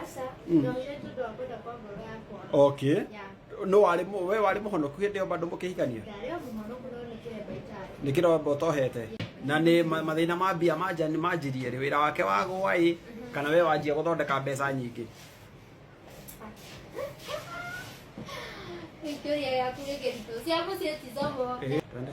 Aca, Mm. na ũirĩtu ũndũ wa kwenda kwa ngoro yakwa. okay Ya, no warĩ mũ- we warĩ mũhonoku hĩndĩ ĩyo bado mũkĩhikania ndarĩ o mũhonoku no nĩ kĩremba itarĩ. nĩ kĩromba ũtohete na nĩ ma- mathĩna ma mbia manja nĩ manjirie rĩ wĩra wake wagũa ĩ kana we wanjia gũthondeka mbeca nyingĩ Victoria yaku nĩ kĩritũ. Cia mũciĩ ti zomo. Ĩ, twende.